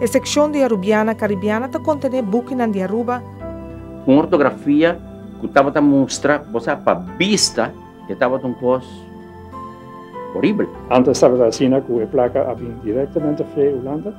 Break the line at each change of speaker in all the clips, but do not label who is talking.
E sekshon di Arubiana Karibiana ta kontené bukinan di Aruba. Un ortografia ku tabata mustra, bo sa, pa bista e tabata un kos horibel. Antes tabata asina ku e plaka a bini direktamente frie Hulanda.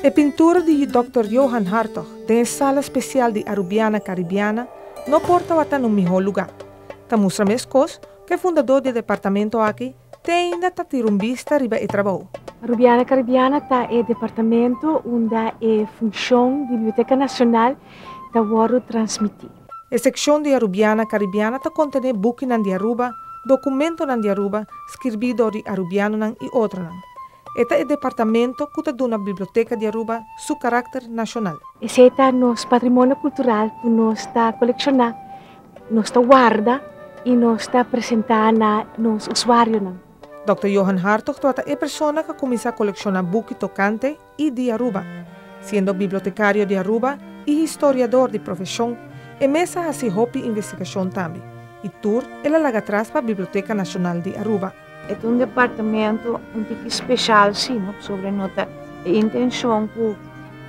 E pintura di Dòkter Johan Hartog den e Sala Spesial di Arubiana Karibiana no por tabata na un mihó lugá. Ta mustra meskos ku e fundadó di e departamento aki te ainda ta tira un bista riba e trabou. Arubiana Karibiana ta e departamento unda e funshon di Biblioteka Nashonal ta wòrdu transmití. E sekshon di Arubiana Karibiana ta kontené bukinan di Aruba, dokumentonan di Aruba, skirbí dor di arubianonan i otronan. E ta e departamento ku ta duna Biblioteka di Aruba su karakter nashonal. Esei ta nos patrimonio kultural ku nos ta kolekshoná, nos ta warda i nos ta presentá na nos usuarionan. Dòkter Johan Hartog tabata e persona ku a kuminsá kolekshoná buki tokante i di Aruba. Siendo bibliotecario di Aruba i historiador di profesion, e mes a haci hopi investigacion tambe, i tur el a laga atras pa Biblioteca Nacional di Aruba. E ta un departamento un tiki special si no, pasobra no ta e intencion cu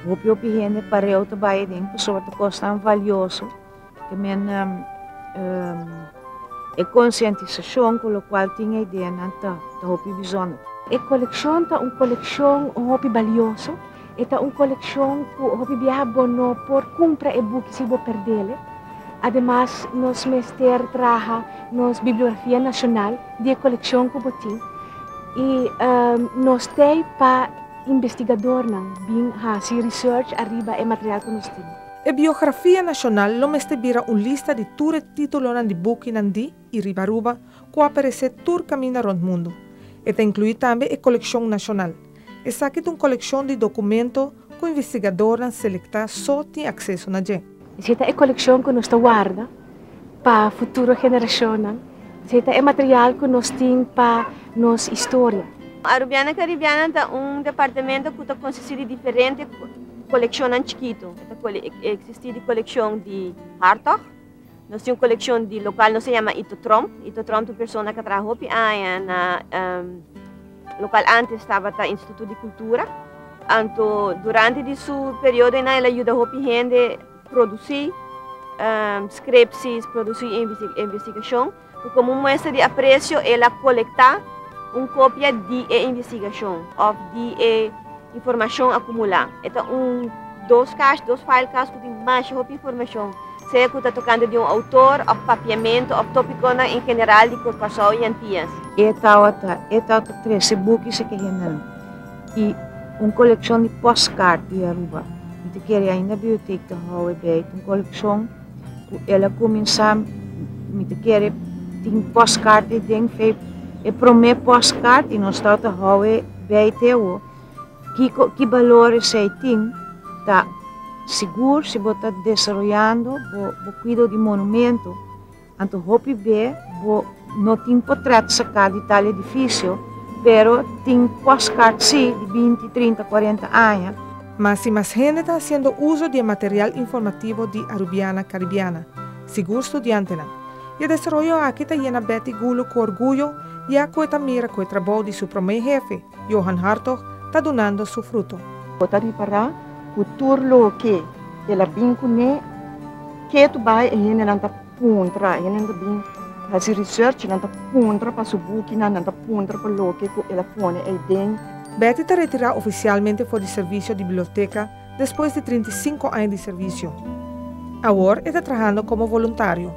hopi hopi hende pareu ta bay aden, pasobra ta cosnan valioso. También e concientisacion cu locual tin e ideanan ta hopi bijzonder. E coleccion ta un coleccion hopi balioso, e ta un coleccion cu hopi biaha bo no por cumpra e buki si bo perdel e. Ademas nos mester traha nos bibliografia nacional di e coleccion cu bo tin y nos t'ey pa investigadornan bin haci research ariba e material cu nos tin. E biografia nashonal lo mester bira un lista di tur e titulonan di bukinan di i riba Aruba ku a peresé tur kaminda rònt mundu. E ta inkluí tambe e kolekshon nashonal. Esaki ta un kolekshon di dokumento ku investigadornan selektá so tin akseso na dje. Dje ta e kolekshon ku nos ta warda. pa futuro generashonnan, se ta e material ku nos tin pa nos historia. Arubiana Karibiana ta un departamento ku ta konsisti di diferente kolekshonnan chikitu. E ta eksistí di kolekshon di Hartog, nos tin un kolekshon di lokal nos a yama Ito Tromp. Ito Tromp ta un persona ku a traha hopi aña na lokal ántes tabata Instituto di Kultura. Anto durante di su periodo einan el a yuda hopi hende. Produsí skrepsis, produsí investigashon ku komo muestra di apresio el a kolektá un kopia di e investigashon òf di e informashon akumulá. E ta un dos kas, dos file kas ku tin masha hopi informashon, sea ku ta tokante di un outor òf papiamentu òf tópikonan en general di Kòrsou i Antias. E tabata trese buki sekehenan. y un coleccion di postkaart di Aruba. Mi ta kere ainda bibliotek ta hou e bey tin coleccion cu el a cuminsa mi ta kere tin postkaart di den fey e prome postkaart y nos tau ta hou e bey te awo kiko ki balor esey tin ta sigur si bo ta desaroyando bo cuido di monumento. Anto hopi be bo no tin por tret saká di tal edifisio, pero tin pòstkaart sí di binti, trinta, kuarenta aña. Ma si mas hende ta hasiendo uso di e material informativo di Arubiana Caribiana, sigur studiantenan. I e desaroyo aki ta yena Betty Gulo ku orguyo, ya ku e ta mira ku e trabou di su promé hefe, Johan Hartog ta dunando su fruto. Bo ta ripará ku tur loke el a bin kuné, ketu bai e hendenan ta puntra, e hendenan ta bin hasi research, nan ta puntra pa su bukinan, nan ta puntra pa loke ku el a pone ei den. Betty ta retirá ofisialmente for di servisio di biblioteka. Despues di trinta i sinku aña di servisio. Awor e ta trahando komo voluntario.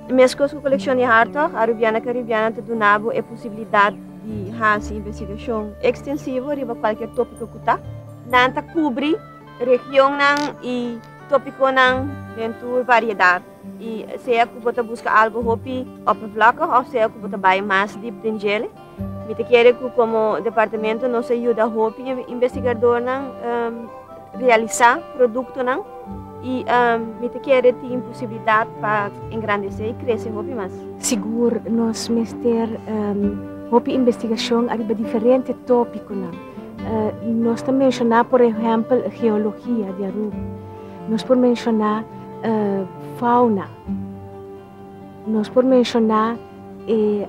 Meskos ku kolekshon di Hartog, Arubiana Karibiana ta duna bo e posibilidat di hasi investigashon ekstensivo riba kualker topiko ku ta. Nan ta kubri regionnan i topikonan den tur variedat, i sea ku bo ta buska algu hopi oppervlakkig òf sea ku bo ta bai mas dip den djele. Mi ta kere ku komo departamento nos a yuda hopi investigadornan realisá produktonan i mi ta kere tin posibilidat pa engrandesé i krese hopi mas. Sigur nos mester hopi investigashon ariba diferente tópikonan. Nos ta menshoná por ehèmpel geologia di Aruba. Nos por menshoná fauna. Nos por menshoná e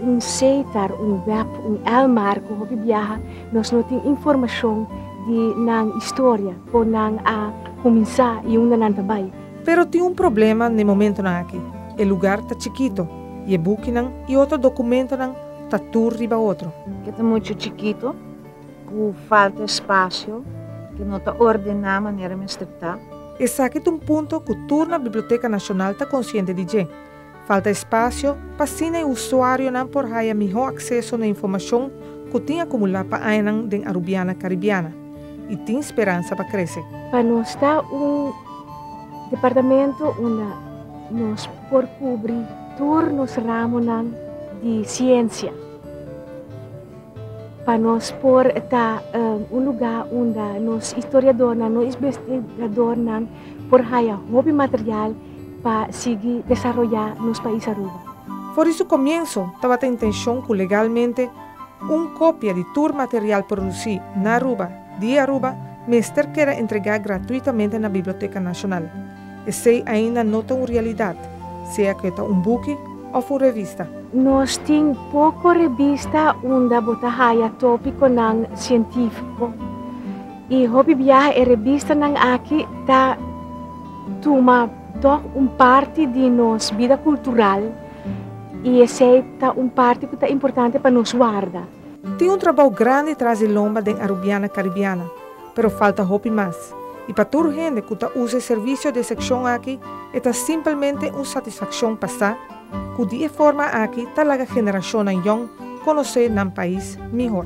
un seitar, un wèb, un èlmar ku hopi biaha nos no tin informashon di nan historia, kon nan a kuminsá i unda nan ta bai. Pero tin un problema n'e momentunan aki, e lugar ta chikitu i e bukinan i otro dokumentunan ta tur riba otro. E ta muchu chikitu. Ku falta espasio, ke no ta ordená manera mester ta. Esaki ta un punto ku tur na Biblioteka Nashonal ta konsiente di dje. Falta espasio, pa asina e usuarionan por haya mihó akseso na informashon ku tin akumulá pa añanan den Arubiana Karibiana i tin speransa pa krese. Pa nos ta un departamento unda nos por kubri tur nos ramonan di siensia. Pa nos por ta un lugá unda nos historiadornan, nos isbestigadornan por haya hopi material pa sigui desaroyá nos pais Aruba. For di su komienso, tabata intenshon ku legalmente un kopia di tur material produsí na Aruba, di Aruba, mester keda entregá gratuitamente na Biblioteka Nashonal. Esei ainda no ta un realidad, sea cu e ta un buki of un revista. Nos tin poco revista unda bo ta haya topiconan cientifico y hopi biaha e revistanan aki ta tuma toch un parti di nos bida cultural y esei ta un parti cu ta importante pa nos warda. Tin un trabou grandi tras di lomba den Arubiana Caribiana, pero falta hopi mas. I pa tur hende cu ta usa e servicio di e seccion aki e ta simpelmente un satisfaccion pa sa cu di e forma aki ta laga generacionnan yong conoce nan pais mihor.